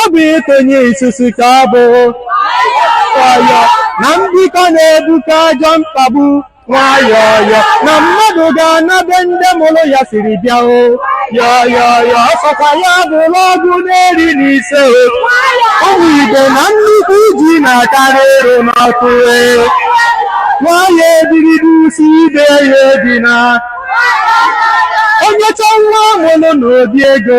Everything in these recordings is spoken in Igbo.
ọ bụ ịtụnye isusu ka ọ bụ ọyọ na mbikọ na-ebuka ajọ mkpagbu nwayọọyọ na mmadụ ga-ana ebe ndị mụrụ ya siri bịa o yọyọyọ ọ sọkwa ya bụrụ ọgụ na iri na ise o ụmụ igbo na nnukwu ji na-akarị ịrụ n'ọkụ e nwayọ ebirido usi ibe ya ebi na onye chọ nwa mụrụ n'obi ego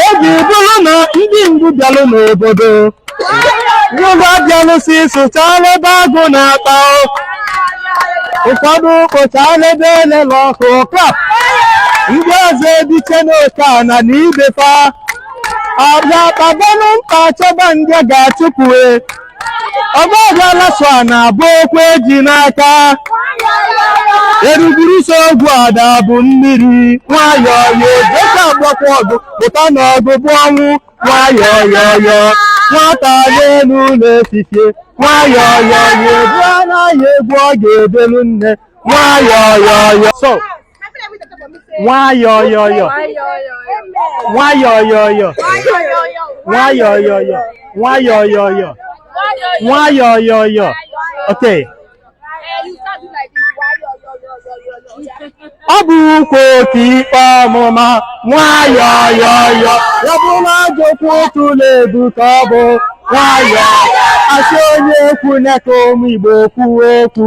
oge bụrụ na ndị mbụ bịalụ n'obodo ngwa bịalụ si sụchala ebe agụ na-akpa ụfọdụ kpochala ebe elele ọkụ klap ndị ọzọ ebiche n'oke ana na ibe fa ọbịa kpabanụ mkpa chọba ndị ga-achụpụ e ọgbaghara so a na-abụ okwu eji n'aka eruguru so ogwu ada bụ mmiri nwayọọ ya dịka agbakwa ọgụ pụta na ọgụ bụ ọnwụ nwayọọ yọyọ nwata n'elu ụlọ efife nwayọọ yọyọ ebu anaghị egwu ọ ga-ebelu nne nwayọọ yọyọ nwayọyọyọ nwayọyọyọ nwayọyọyọ nwayọyọyọ nwayọyọyọ okay ọ bụ ukwu otu ikpe ọmụma nwayọyọyọ ya bụ na ajọ okwu otu na-ebu ka ọ bụ nwayọ a sị onye okwu na-eke ụmụ igbo kwuo okwu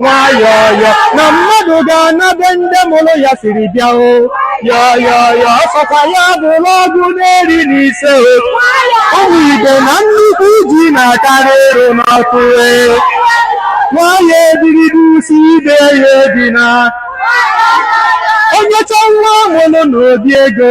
nwayọọyọ na mmadụ ga-ana ebe ndị mụrụ ya siri bịa o yọyọyọ ọ sọkwa ya bụrụ ọgụ na iri na ise o ụmụ igbo na nnukwu ji na-akarị ịrụ n'ọkụ e nwayọ ebirido usi ibe ya ebi na onye chọọ nwa mụrụ n'obi ego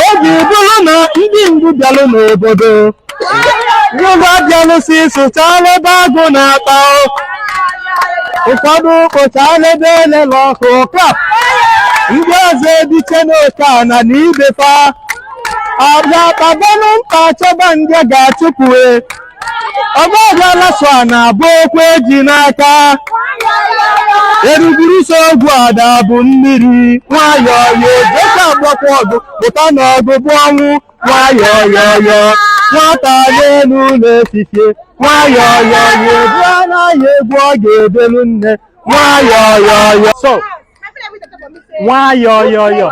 oge bụrụ na ndị mbụ bịalụ n'obodo ngwa bịalụ si sụchala ebe agụ na-akpa ụfọdụ kpochala ebe elele ọkụ krap ndị ọzọ ebiche n'oke ana na ibe fa ọbịa kpabanụ mkpa chọba ndị ga-achụpụ e ọgbaghara so a na-abụ okwu eji n'aka eruguru so ogwu ada bụ mmiri nwayọọ ya ejecha agbakwa ọgụ pụta na ọgụ bụ ọnwụ nwayọọ yọyọ nwata n'elu ụlọ efife nwayọọ yọyọ ebu anaghị egwu ọ ga-ebelu nne nwayọọ yọyọ so nwayọyọyọ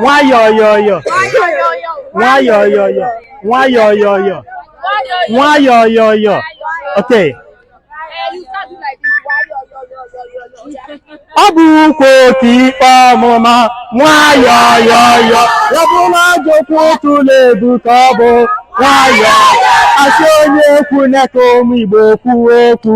nwayọyọyọ nwayọyọyọ nwayọyọyọ nwayọyọyọ okay ọ bụ ukwu otu ikpe ọmụma nwayọyọyọ ya bụ na ajọ okwu otu na-ebuta ọgụ nwayọ asị onye okwu na-eke ụmụ igbo kwuo okwu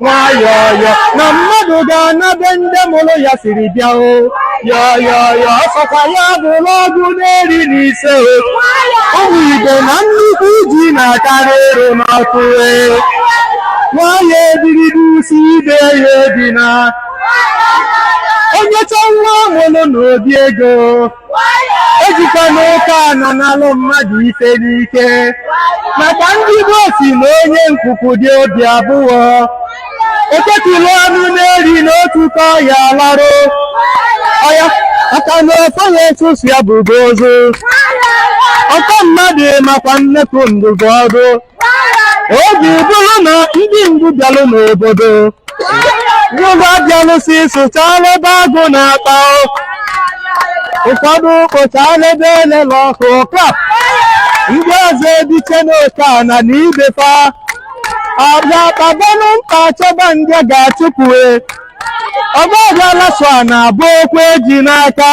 nwayọọyọ na mmadụ ga-ana ebe ndị mụrụ ya siri bịa o yọyọyọ ọ sọkwa ya bụrụ ọgụ n'eri na ise o ụmụ igbo na nnukwu ji na-akarị ịrụ n'ọkụ e nwayọ ebirido usi ibe ya ebi na onye chọọ nwa mụrụ n'obi ego ejikwana ụka ananalụ mmadụ ife n'ike maka ndị gboo sị na onye nkuku dị obi abụọ eketụla ọnụ n'eri n'otu ka ọya larụ ọya maka na ọfọ ya etusu ya bụgo ozu ọtọ mmadụ makwa nnekwu ndụmọdụ oge bụrụ na ndị mbụ bịalụ n'obodo ngwa bịalụsi sụchala ebe agụ na-akpa ụfọdụ kpochala ebe elele ọkụ klap ndị ọzọ ebiche n'oke ana na ibe fa ọbịa kpabanụ mkpa chọba ndị ga-achụpụe ọgbaghara so a na-abụ okwu eji n'aka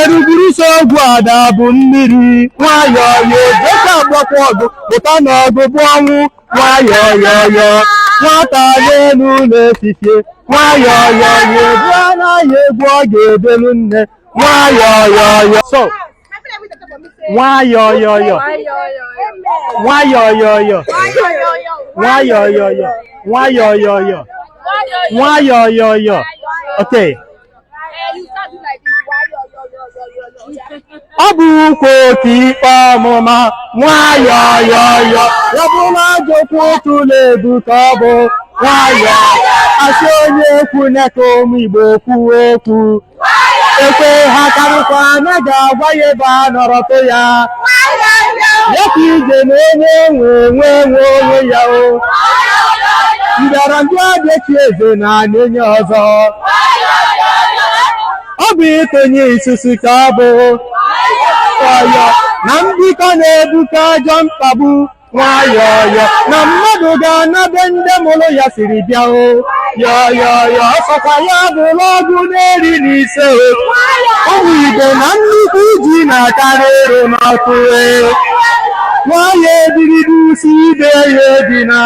eruguru so ogwu ada bụ mmiri nwayọọ yo dịka agbakwa ọgụ pụta n'ọgụ bụ ọnwụ nwayọọ yọyọ nwata n'elu ụlọ efifie nwayọọ yọyọ ebu anaghị egwu ọ ga-ebelu nne nwayọọ yọyọ so nwayọyọyọ nwayọyọyọ nwayọyọyọ nwayọyọyọ nwayọyọyọ okay ọ bụ ukwu otu ikpe ọmụma nwayọyọyọ ya bụ na ajọ okwu otu na-ebuta ọgụ nwayọ asị onye okwu na-eke ụmụ igbo kwuo okwu ekwe ha karịkwa na ga-agwa ya ebe a nọrọtụ ya ya ka ije na onye nwe onwe nwe onwe ya o mbịarambịa adị echi eze na ana onye ọzọ ọ bụ ikonye isusu ka ọ bụ ọyọ na mbikọ na-ebuta ajọ mkpagbu nwayọọyọ na mmadụ ga-anabe ndị mụrụ ya siri bịa o yọyọyọ ọsọkwa ya bụrụ ọgụ na iri na ise o ụmụ Igbo na nnukwu ji na-akarị ịrụ n'ọkụ e nwayọ ebirido usi ibe ya ebi na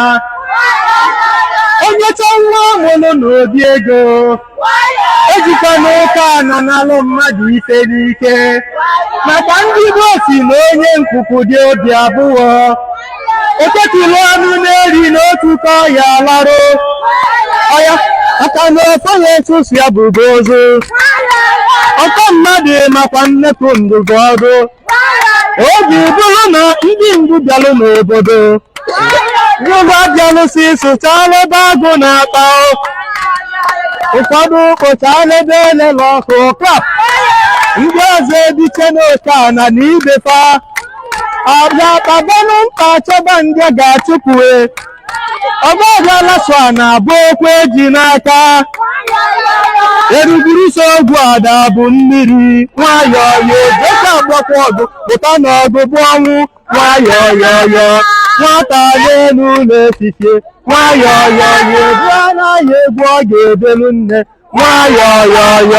onye chọọ nwa mụrụ n'obi ego ejikwanụ ụka na-analụ mmadụ ife n'ike maka ndị Igbo si na onye nkuku dị obi abụọ eketulu ọnụ n'eri n'otu ka ọya larụ ya aka na ọfọ ya etusu ya bụgo ozu ọkọ mmadụ makwa nnekwu ndụbụ ọdụ oge bụrụ na ndị mbụ bịalụ n'obodo ngwa bịalụsi sụchala ebe agụ na-akpa ụfọdụ kpochala ebe elele ọkụ klap ndị ọzọ ebiche n'oke ana na ibe fa abịa kpabanụ mkpa chọba ndị ga-achụpụe ọgbaghara so a na-abụ okwu eji n'aka eruguru so ogwu ada bụ mmiri nwayọọ ya dịka agbakwa ọgụ pụta n'ọgụ bụ ọnwụ nwayọọ yọyọ nwata n'elu ụlọ efife nwayọọ yọyọ ebu anaghị egwu ọ ga-ebelu nne nwayọọ yọyọ